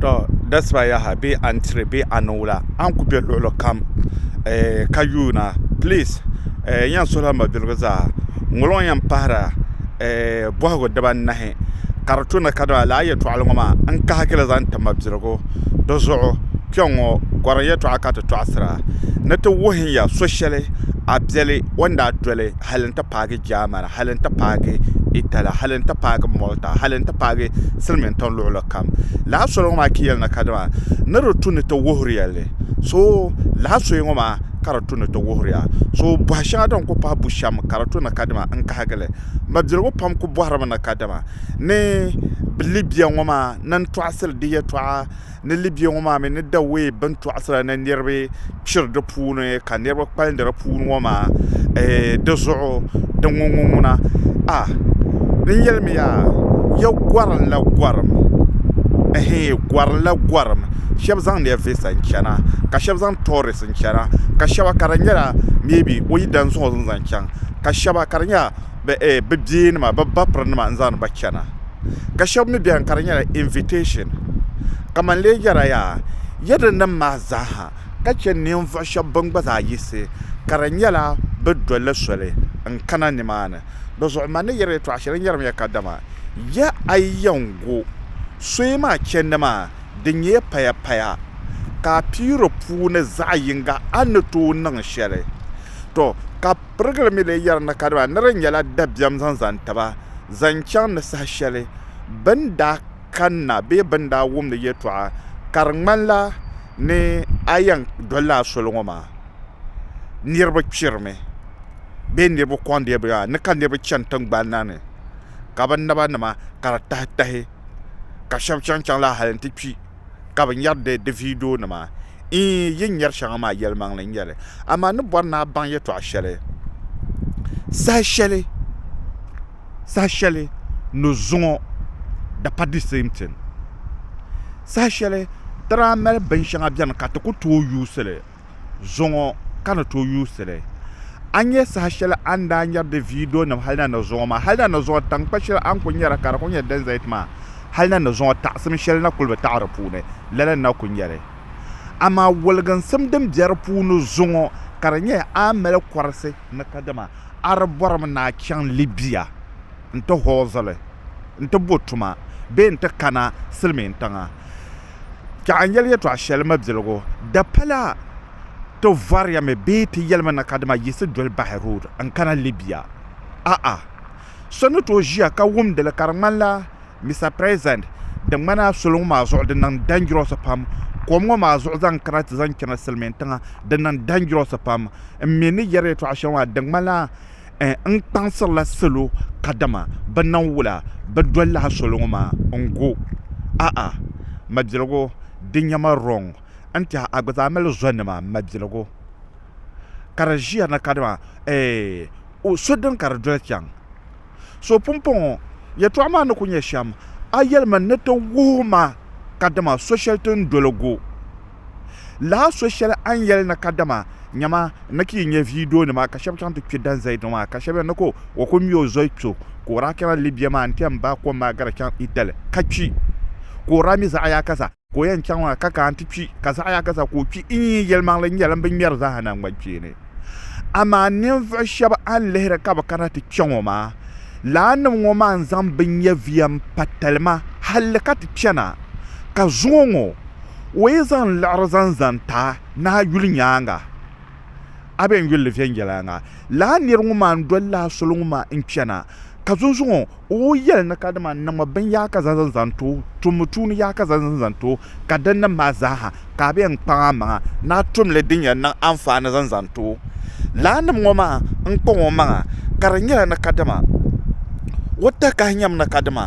tɔ dasiba yaha bee a ni tiri bee a niŋ wula a ni ku bɛ luɣuli kam ka yuuna pilis n yɛn suhula mabiligu zaa ŋɔlo ŋɔ yɛn pahila bɔhigu dibanahi ka di tuna kadama lala yɛltɔɣa ŋɔ maa n kahigila zaŋ ti mabiligu dizuɣu kpɛŋŋɔ gɔrim yɛltɔɣa ka ti tɔɣasira ni ti wuhiya so shɛli a biɛli o ni daa doli hali n ti paagi jaamana hali n ti paagi Itala hali n ti paagi Malta hali n ti paagi silimiintiŋ luɣuli kam lahi soli ŋɔ maa ki yɛli na kadama ni di tu ni ti wuhiriya li so lahi soya ŋɔ maa ka di tu ni ti wuhiriya so bɔhi shɛŋa din ku pahi bushɛm ka di tu ni kadama n kahigi li mabiligu pam ku bɔhirimi ni kadama ni bilibiɛ ŋɔ maa ni n tɔɣisiri di yɛtɔɣa Ni Libya ŋɔ maa mi ni Dawei bintɔɣisira ni niriba kpiri di puuni ka niriba kpalindi di puuni ŋɔ maa di zuɣu di ŋuŋuŋuna a ni yɛlimiya ya gɔrinla gɔrim ɛhɛin gɔrinla gɔrim shɛba zaŋmiya visa n-chana ka shɛba zaŋ tourist n-chana ka shɛba ka di nyɛla maybe o yi dan zuɣu zaŋ chaŋ ka shɛba ka di nyɛla bɛ bia nima bɛ ba piri nima n zaŋdi ba chana ka shɛba mi bɛni ka di nyɛla invitashɛn ka man lee yɛra yaa yɛdin nima maa zaa ha ka che ninvuɣu shɛba bini gba zaa yiɣisi ka di nyɛla bɛ doli soli n kana ni maa ni di zuɣu man ni yɛri yɛtɔɣa shɛli n yɛri mi ya ka dama ya a yi yɛn go sooyi maa chendi maa di nyɛla paya paya ka a pii di puuni zaɣi yinga a ni tooi niŋ shɛli tɔ ka. Pirigili mi lee yɛri na ka dama ni di nyɛla dabiɛm zaŋ zani taba zaŋ chaŋ ni saha shɛli bɛ ni daa kanna bee bɛ ni daa wumdi yɛltɔɣa ka di ŋmanila ni a yɛn dolila a soli ŋɔ maa niriba kpirimi bee niriba kɔŋdi bɛ ni ka niriba chani tiŋgbani na ni ka bɛ naba nima ka di tahitahi ka shɛba chaŋ chaŋ lahi hali nti kpi. ka bɛ nyɛri di di viidionima. Iin, yi ni nyɛri shɛŋa maa yɛlimaŋli n-nyɛ li. Amaa n ni bɔri ni a baŋ yɛtɔɣ shɛli saha shɛli saha shɛli ni zuŋɔ di pa di same thing. Saha shɛli ti daa mali binshɛŋa beni ka ti ku tooi yuusi li. zuŋɔ ka ni tooi yuusi li. A ni nya saha shɛli a ni daa ŋmɛri di viidionima hali na ni zuŋɔ maa, hali na ni zuŋɔ taŋkpa shɛli a ni kuli nyara ka di kuli nyɛ din zaya ti maa, hali na ni zuŋɔ taɣisim shɛli na kuli bi taɣi di puuni, lala n-na kuli nyɛ li. Amaa woliginsim din be di puuni zuŋɔ ka di nyɛ a ni mali kɔrisi ni kadama, a di bɔrimi ni a chaŋ Libya nti hɔɔzili nti bo tuma bee nti kana Silimiintiŋa. Ka a yɛli yɛtɔɣ shɛli mabiligu, di pala ti vɔriyami bee ti yɛlimi na kadama yiɣisi doli bahi road n-kana Libya? A'a! So ni tooi ʒiya ka wumdi li ka di ŋmanila, Mister President, di ŋmanila soli ŋɔ maa zuɣu di niŋ dangerous pam, kom ŋɔ maa zuɣu zaŋ kana ti zaŋ chana Silimiintiŋa di niŋ dangerous pam. M mi ni yɛri yɛtɔɣ shɛŋa maa di ŋmanila, N kpaŋsirila salo kadama bɛ nam wula bɛ doli lahi soli ŋɔ maa n-gu a'a, Mabiligu di nya ma wrong n-tɛha a gba zaa mali zonima Mabiligu ka di ʒiya na kadama o so din ka di doli chaŋ so pumpɔŋɔ yɛltɔɣa maa ni ku nyɛ shɛm a yɛlimi ni ti wuhi ma kadama so shɛli ti ni doli gu. Lahi so shɛli a ni yɛli na kadama nyama n ni ti yi nya viidiyo nima ka shɛba chaŋ ti kpi Dan Zaid ŋɔ maa ka shɛba yɛli ni ka o kuli ŋme o zoli kpe o ka o daa kana Libya maa n-ti yɛn baai kom maa gari chaŋ Italy ka kpi ka o daa mi zaɣiyaka zaa ka o yɛn chaŋ maa ka kana ti kpi ka zaɣiyaka zaa ka o kpi n-yi yi yɛlimaŋli n-nyɛ din bi ŋmɛri zaaha naŋgbankpeeni. Amaa ninvuɣ shɛba a ni lihiri ka bɛ kana ti kpe ŋɔ maa, laannim ŋɔ maa n-zaŋ binyɛviya m-pa talima halli ka ti chana ka zuŋɔ ŋɔ o yi zaŋ liɣiri zaŋ zani ta ni a yuli nyaaŋa, a bɛn yuli li viɛnyɛla ŋa, lala nir ŋun maa ni doli li a soli ŋɔ maa n-chana, ka zunzuŋɔ o yɛli ni kadama n niŋmi bini yaaka zaŋ zaŋ zaŋ ti o, tummi tuuni yaaka zaŋ zaŋ zaŋ ti o, ka din niŋ maa zaaha ka a bɛn kpaŋ a maŋa ni a tum li din yɛn niŋ anfaani zaŋ zaŋ ti o. Lala nim ŋɔ maa n-kpaŋ o maŋa, ka di nyɛla ni kadama o takahi nyɛmi ni kadama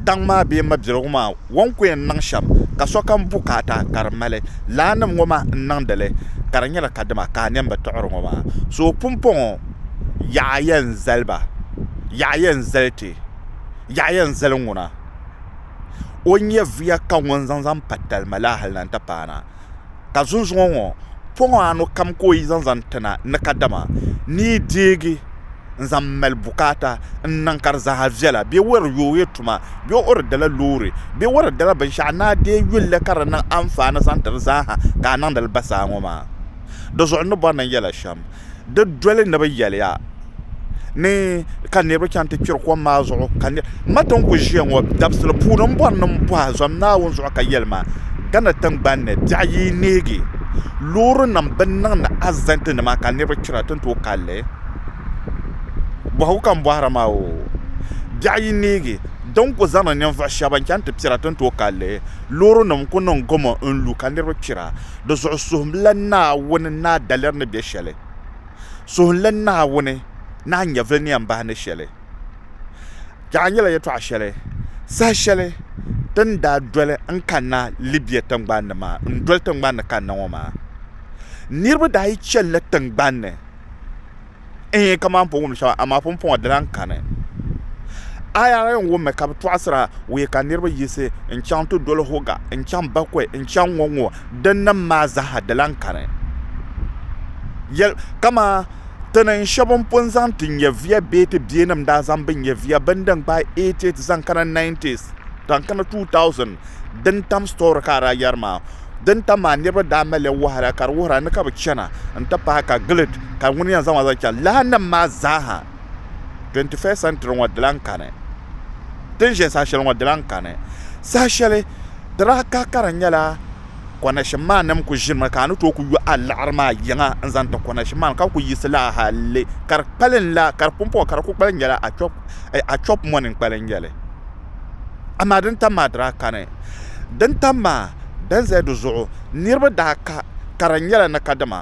daŋ maa bee mabiligu maa ŋun ku yɛn niŋ shɛm ka sokam bukaata ka di mali laa nim ŋɔ maa n-niŋdi li, ka di nyɛla ka dima ka a niɛm bi tuɣiri ŋɔ maa. So pumpɔŋɔ yaɣa yɛn zali ba, yaɣa yɛn zali ti, yaɣa yɛn zali ŋuna, o nyɛviya ka ŋun zaŋ zaŋ pa talima la hal na n-ti paana. ka zunzuŋɔ ŋɔ pɔŋɔ anu kam ka o yi zaŋ zaŋ ti na ni kadama ni yi deegi n-zaŋ mali bukaata n-niŋ ka di zaa viɛla bee o yɛn yoogi tuma bee o di dala loori bee o di dala binshɛɣu ni a deei yuli li ka di niŋ anfaani zaŋ ti di zaa ha ka a niŋdi li basaa ŋɔ maa di zuɣu ni bɔri ni n yɛla shɛm di doli ni bi yɛliya ni ka niraba chɛŋ ti kpɛri kom maa zuɣu ka n ma ti ni ku ʒiya ŋo dabisili puuni n bori ni n bohi zom Naawuni zuɣu ka yɛli ma gana tingbanni biɛɣu yi neegi loori nim bi niŋdi asidɛnt nima ka niraba kpira ti ni tooi kanli bohagu ka n bohari maa oo biɛɣu yi neegi din ku zaŋdi ninvuɣu shab n chɛŋ ti kpira ti ni tooi kanli loori nim n ku niŋ gamo n lu ka niraba kpira Di zuɣu suhimla Naawuni ni a daliri ni be shɛli. Suhimla Naawuni ni a nyɛvili ni yɛn bahi ni shɛli. Yaha nyɛla yɛtɔɣ shɛli saha shɛli ti ni daa doli n-kanna Libia tiŋgbani ni maa n-doli tiŋgbani ni kanna ŋɔ maa. Niriba daa yi chanila tiŋgbani ni. Ɛɛ, kaman po wum shɛba, amaa pumpɔŋɔ di lan kani. Aya la yɛn wummi ka bɛ tɔɣisira wuhi ka niriba yiɣisi n-chaŋ ti doli Hoga n-chaŋ Bakɔi n-chaŋ ŋɔ ŋɔ dinnim maa zaaha di lan kani. Yɛl, Kaman ti ni shɛba n pun zaŋ ti nyɛviya bee ti biɛnim daa zaŋ bɛ nyɛviya bini din gbaai 88 zaŋ kana 90s zaŋ kana 2000 din tam story ka a daa yɛri maa. din tam maa niriba daa mali li wahala ka di wuhira ni ka bi chana n ti pahi ka gilet ka ŋuni yɛn zaŋ ma zaŋ chaŋ lahi nim maa zaa ha 21st century ŋɔ di lan kani ti ni ʒe saha shɛli ŋɔ di lan kani saha shɛli di daa kahi ka di nyɛla konɛshin maa nim kuli ʒini mi ka a ni tooi kuli yo a liɣiri maa yiŋa n zaŋ ti konɛshin maa ni ka bi kuli yiɣisi laa hali ka di kpalim la ka di pumpɔŋɔ ka di kuli kpalim nyɛla a chɔp mɔni n-kpalim nyɛli. Amaa din tam maa daa kani. Din tam maa din zaya di zuɣu niriba daa ka ka di nyɛla ni kadama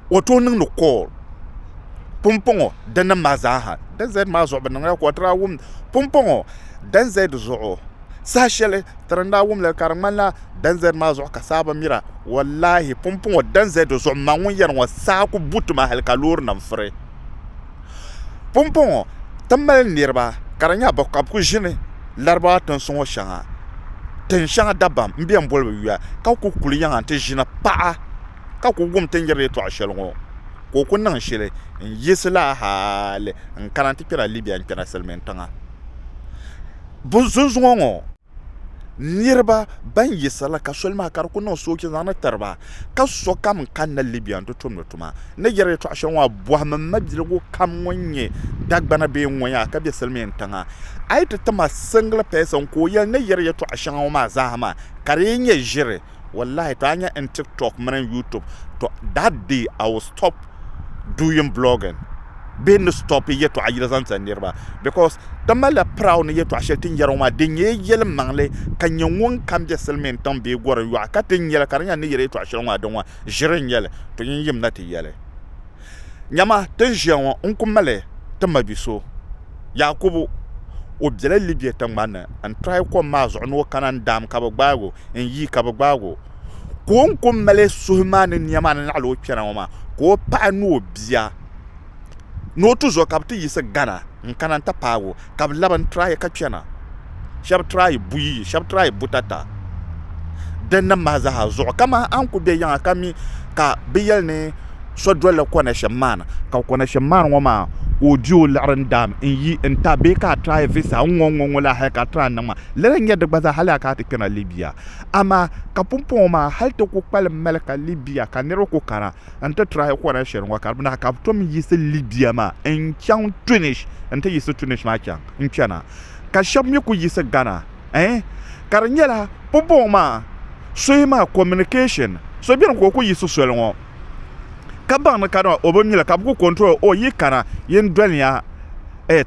o tooi niŋdi kool pumpɔŋɔ dinim maa zaaha din zaya maa zuɣu bɛ niŋla kool ti daa wum pumpɔŋɔ din zaya di zuɣu saha shɛli ti ni daa wumli ka di ŋmanila din zaya maa zuɣu ka saa bi mira wallaahi pumpɔŋɔ din zaya di zuɣu m ma ŋun yɛri ŋɔ saa ku bu ti ma hali ka loorinima furi. pumpɔŋɔ ti mali niriba ka di nyɛla ka bɛ kuli ʒini Laribawa tinsi ŋɔ shɛŋa tin shɛŋa dabam m-be ni boli ba yuya ka kuli kuli yaha nti ʒini paɣa ka kuli wum ti ni yɛri yɛltɔɣ shɛli ŋɔ ka o kuli niŋ shili n-yiɣisi la hali n-kana nti kpɛla Libia n-kpɛna silimiintiŋa bɛ zunzuŋɔ ŋɔ niriba ban yiɣisirila ka soli maa ka di kuli niŋ sooja zaŋdi tiriba ka sokam n kanna Libya n ti tumdi tuma n ni yɛri yɛltɔɣa shɛli ŋɔ maa bɔhim m mabiligu kam ŋun nyɛ Dagbana bee n ŋɔ yaa ka be silimiin tiŋa a yi ti tim a single person ka o yɛli n ni yɛri yɛltɔɣa shɛŋa ŋɔ maa zaa ha maa ka di yi nyɛ ʒiri wallahi to a nya n tik tok mini n youtube to that day i will stop doing blogging bee ni stop yɛtɔɣa yili zaŋ tiri niriba because ti malila proud ni yɛtɔɣa shɛli tin yɛri ŋɔ maa din nyɛ yɛli maŋli ka nyɛ ŋun kam bɛ silmiin tiŋ bee gɔrin yɔɣu ka tin yɛli ka di nyɛla ni yɛri yɛtɔɣa shɛli ŋɔ maa din ŋɔ ʒiri n nyɛli to yin yim na ti yɛli nyɛma tin ʒiya ŋɔ n ku mali ti mabi so Yaakubu, o bela Libia tiŋgbani ni n-tɔhi kom maa zuɣu ni o kana n-daam ka bɛ gbaag o, n-yi ka bɛ gbaag o. Ka o ni ku mali suhu maa ni nia maa ni naɣila o kpɛna ŋɔ maa, ka o paɣa ni o bia ni o tuzo ka bɛ ti yiɣisi gana n-kana n-ti paag o, ka bɛ labi n-tɔhi ka kpɛna. shɛbi try buyi yi shɛbi try butata din nim maa zaa zuɣu ka man a ni ku bɛ yiŋa ka mi ka bɛ yɛli ni so dolila connection man ka connection man ŋɔ maa ka o di o liɣiri n daam n yi n ta bee ka a try visa n ŋɔ n ŋɔ n ŋɔ la hali ka a try niŋ maa lala n nyɛ di gba zaa hali a ka a ti kpɛna Libya amaa ka pumpɔŋɔ maa hali ti ku kpalim mali ka Libya ka niriba ku kana n ti try kɔrɛ shɛli ŋɔ ka di bina ka bɛ tom yiɣisi Libya maa n chaŋ Tunis n ti yiɣisi Tunis maa chaŋ n kpɛna ka shɛba mi kuli yiɣisi Ghana ɛɛn ka di nyɛla pumpɔŋɔ maa soya maa communication so beni ka o kuli yiɣisi soli ŋɔ ka baŋ ni kadama o bi mi la ka bɛ kuli control o yi kana yin doliya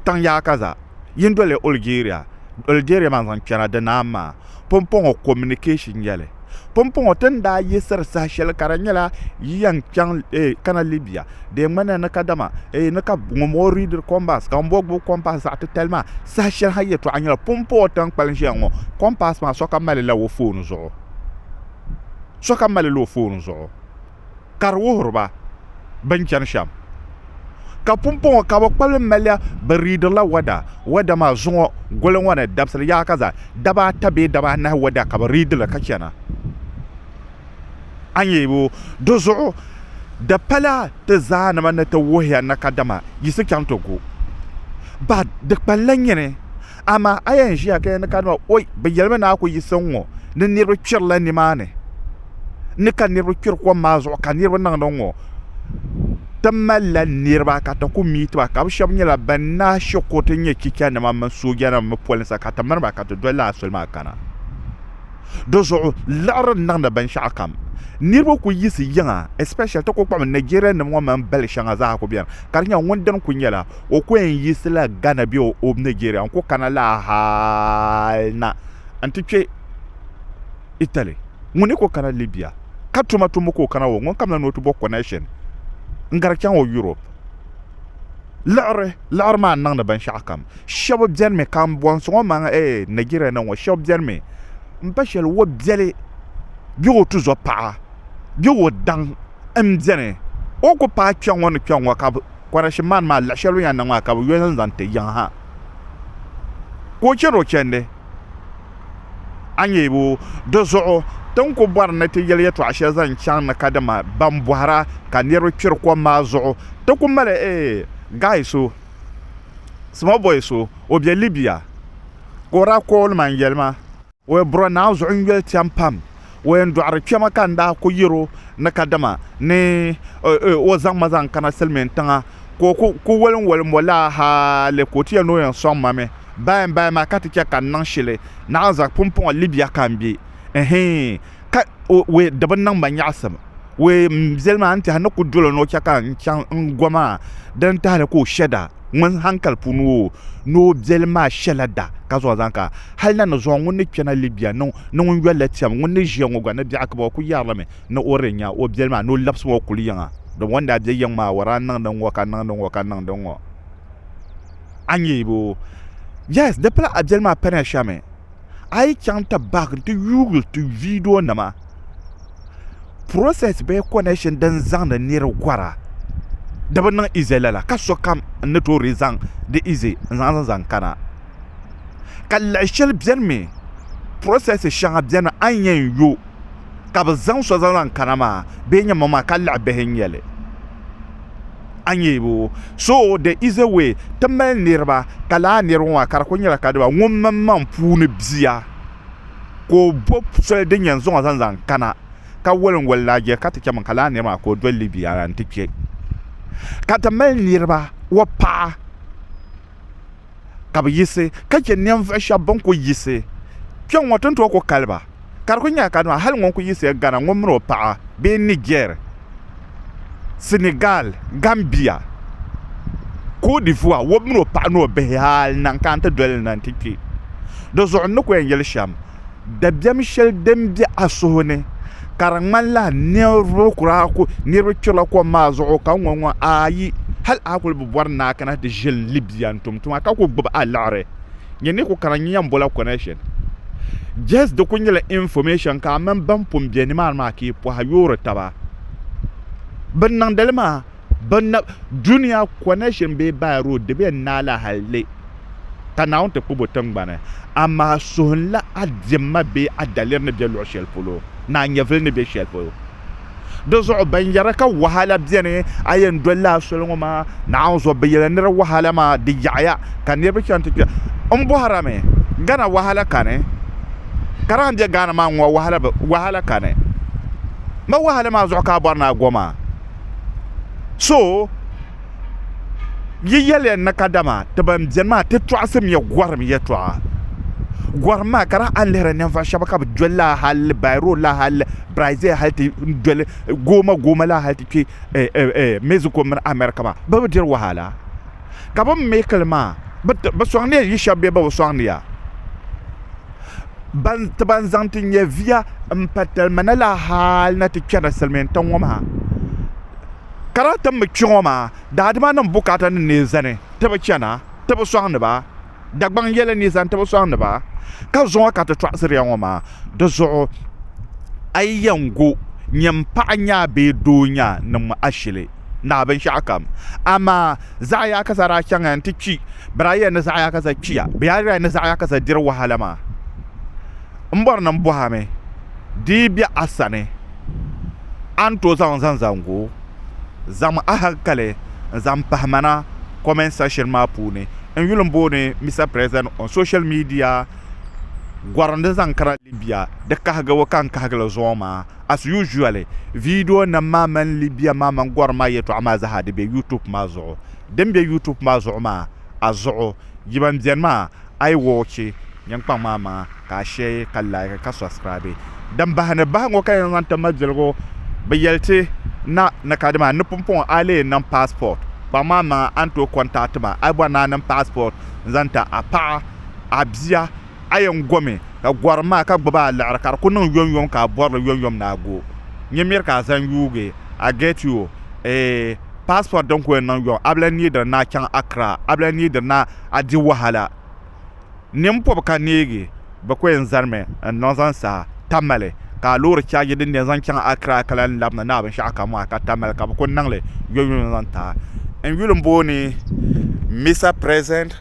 taŋ yaaka zaa. Yin doli Algeria Algeria maa zaŋ kpɛna di naan maa pumpɔŋɔ communication yɛli. Pumpɔŋɔ ti ni daa yiɣisiri saha shɛli ka di nyɛla yi yɛn kpɛŋ eh, kana Libya di yɛn ŋmanila ni kadama eh, ni ka ŋun bɔŋɔ read compass ka ŋun bɔŋɔ gbubi compass zaɣ titali maa saha shɛli ha yɛtɔɣa nyɛla pumpɔŋɔ ti ni kpalim ʒiya ŋɔ compass maa sokam malila o phone zuɣu sokam malila o phone zuɣu ka di wuhiri ba bɛ ni chani shɛm. Ka pumpɔŋɔ ka bɛ kpabili maliya bɛ riidirila wada. Wada maa zuŋɔ goli ŋɔ ni dabisili yaha ka zaa daba ata bee daba anahi wada ka bɛ riidi li ka chana. A nya o, di zuɣu di pala ti zaanima ni ti wuhiya ni kadama yiɣisi chaŋ ti gu ba di kpaŋ la nyini. Amaa a yɛn ʒiya ka ya ni ka nima, Oi, bɛ yɛlimi ni a ku yiɣisi n ŋɔ ni niriba kpirila nimaani ni ka niriba kpiri kom maa zuɣu ka niriba niŋdi n ŋɔ. Ti malila niriba ka ti ku miiti ba ka bɛ shɛba nyɛla bɛn naai she kuriti nyɛ chichanima mini soojanima mini polinsi ka ti mini ba ka ti doli lala soli maa kana. Di zuɣu liɣiri niŋdi binshɛɣukam. Niriba ku yiɣisi yiŋa especially ti ku kpuɣimi Nigerianim ŋɔ mini bali shɛŋa zaa ku beni ka di nyɛla ŋun dini ku nyɛla o ku yɛn yiɣisila Ghana bee o bi Nigeria n-ku kana laa hal na nti kpe Italy. Ŋun ni ku kana Libya ka tuma tumbu ka o kana ŋɔ, ŋunkam la ni o ti bɔ connection n-gari chaŋ o Europe. Liɣiri liɣiri maa n-niŋdi binshɛɣukam. Shɛba benimi ka m bɔhisi ŋɔ man ee Nigeria ni ŋɔ, shɛba benimi m-pa shɛli o biɛli bee o tuzɔpaɣa bee o daŋ m-beni o ni ku paai kpe ŋɔ ni kpe ŋɔ ka Kɔrɛshi man maa luɣ shɛli o ni yɛn niŋ maa ka bɛ yo zaŋ zaŋ ti yiŋ ha. Ka o chɛri o chɛndi, a nya o. Di zuɣu ti ni ku bɔri ni ti yɛli yɛtɔɣ shɛli zaŋ chaŋ ni ka dama bɛn bɔhir a ka niriba kpiri kom maa zuɣu ti ku mali ee, guy so, small boy so, o be Libya ka o daa kool ma n-yɛli ma. O yɛn bɔrɔ Naa zuɣu n-yoli tiɛm pam. O yɛn dɔɣiri kpɛma ka n daa ku yɛr o ni kadama ni o zaŋ ma zaŋ kana Silimiin tiŋa ka o ku walinwali m-bɔ laa hali ka o ti yɛl ni o yɛn sɔŋ ma mi. Bahi bahi maa ka ti chɛ ka n niŋ shili. Naɣinzak pumpɔŋɔ Libya ka n be. Ɛhii! ka o we di bi niŋ ma nyaɣisim. We m biɛli maa n-tɛha ni ku dolo ni o chɛ ka n chaŋ n go maa din tahili ka o shɛ da ŋun hankali puuni o ni o biɛli maa shɛla da ka zuɣu zaŋ ka hal na ni zuɣu ŋun ni kpɛna Libya ni ŋun yoli la tɛm ŋun ni ʒiya ŋɔ gba ni biɛɣu kiba o ku yɛrilimi ni o di nya o biɛli maa ni o labisi o kuli yiŋa domi o ni daa be yiŋ maa o daa niŋdi ŋɔ ka niŋdi ŋɔ ka niŋdi ŋɔ a nya o yes di pala a biɛli maa paniya shɛmi. a yi chaŋ ti bahi nti yuui ti viidionima, process bee connection din zaŋdi niri gɔra di bi niŋ easy lala ka sokam ni toori zaŋ di easy n-zaŋ zaŋ kana. Ka lahi shɛli benimi process shɛŋa beni a ni yɛn yo ka bi zaŋ so zaŋ lahi kana maa bee n nyɛ ma maa ka laɣa bihi n nyɛli a nyɛbu so the is a way ti mali niriba ka laa niriba maa ka di kuli nyɛla ka diba ŋun mini maŋ puuni bia ka o bo soli din yɛn zaŋ o zaŋ zaŋ kana ka wali n wali laa jɛ ka ti chɛ min ka laa niri maa ka o doli Libya la n ti kpɛ ka ti mali niriba o paɣa ka bi yiɣisi ka chɛ ninvuɣ shɛb bɛn kul yiɣisi kpe ŋɔ ti ni tooi ku kali ba. Ka di kul nyɛla ka dama hal ŋun kul yiɣisiya Ghana ŋɔ min o paɣa bee Niger, Senegal, Gambia, Côte d'Ivoire wɔbu min o paɣa ni o bihi hal naŋ ka n ti doli li na nti kpe di zuɣu n ni ku yɛn yɛli shɛm. dabiɛm shɛli din be a suhu ni ka di ŋmanila ninvuɣu kura ku niriba kpirila kom maa zuɣu ka ŋɔ ŋɔ ayi hali a kuli bi bɔri ni a kana ti ʒi Libya n-tum tuma ka ku gbubi a liɣiri nyɛ ni ku kana n-nya yɛn bola connection just di ku nyɛla information ka a mini ban pun be nimaani maa ka yi pɔhiyuuri taba bɛ niŋdi li maa Bɛ dunia connection bee by road di bɛ naala halli ka Naawuni ti kpubi o tiŋgbani, amaa suhunla a diɛmma bee a daliri ni be luɣ shɛli polo ni a nyɛvili ni be shɛli polo. Di zuɣu ban yɛra ka wahala beni a yɛn doli la a soli ŋɔ maa Naawuni zuɣu, bɛ yɛla ni di wahala maa di yaɣiya ka niriba chaŋ ti kpe. M bɔhirami, Ghana wahala kani? Ka daa be Ghana maa ŋɔ wahala kani? Ma wahala maa zuɣu ka a bɔri ni a go maa? so yi yɛliya na kadama ti ban beni maa ti tɔɣisimya gɔrim yɛtɔɣa gɔrim maa ka daa a ni lihiri ninvuɣ shɛba ka bɛ doli lala hali Bairo lala hali Brazil hali ti doli Goma Goma lala hali ti kpe Mexico mini America maa bɛ bi diri wahala ka bɛ make li maa bɛ sɔŋniya yi shɛba bee bɛ bi sɔŋniya ti ban zaŋ ti nyɛviya m-pa talima ni la hali ni ti chana silimiintiŋ ŋɔ maa ka daa ti mi kpe ŋɔ maa daadimanim bukaatanima n-lee zani ti bi chana ti bi sɔŋdi ba Dagbaŋ yɛli ni zaŋ ti bi sɔŋdi ba, ka zuŋɔ ka ti tɔɣisiri ya ŋɔ maa. Di zuɣu a yi yɛn gu nyini paɣa nyaa bee doo nyaa niŋ ma ashili naai binshɛɣukam. Amaa zaɣ yaakaza daa chaŋya nti kpi, bɛ daa yɛli ni zaɣ yaakaza kpiya, bɛ yaa yɛli ni zaɣ yaakaza diri wahala maa. M bɔri ni m bɔhimi di yi be a sani, a ni tooi zaŋ o zaŋ zaŋ gu o. Zaŋmi ahankali n-zaŋ pahi ma na comment section maa puuni n yuli m-booni Mister President on social media gɔri ni zaŋ kana Libya di kahigibu ka n kahigi li zuɣu maa. As usually, video nim maa mini Libya maa mini gɔri maa yɛtɔɣa maa zaa di be YouTube maa zuɣu. Din be YouTube maa zuɣu maa. a zuɣu yi ban beni maa ayi wɔchi nyiŋkpaŋ maa maŋa ka a shɛɛ ka like ka subscribe din bahi ni bahiŋɔ ka yen zaŋ ti mabiligu bi yeli ti na ni ka dima ni pumpɔŋɔ a lee niŋ passport kpaŋ maa maŋa a ni tooi contact ma a yi bɔri ni a niŋ passport n zaŋ ti a paɣa a bia. a yɛn gomi ka gɔrim maa ka gbubi a liɣiri ka di ku niŋ yomyom ka a bɔri li yomyom ni a go nyɛ miri ka a zaŋ yuugi a get you a passport din ku yɛn niŋ yom a bi lahi neediri ni a chaŋ Accra a bi lahi neediri ni a di wahala nini pɔbi ka neegi bɛ ku yɛn zarimi n-niŋ zaŋ saha Tamale ka a loori chaaji din di yɛn zaŋ chaŋ Accra ka lahi labina ni a binshɛɣu kam maa ka Tamale ka bɛ ku niŋ li yomyom zaŋ ti a n yuli m-booni Mister President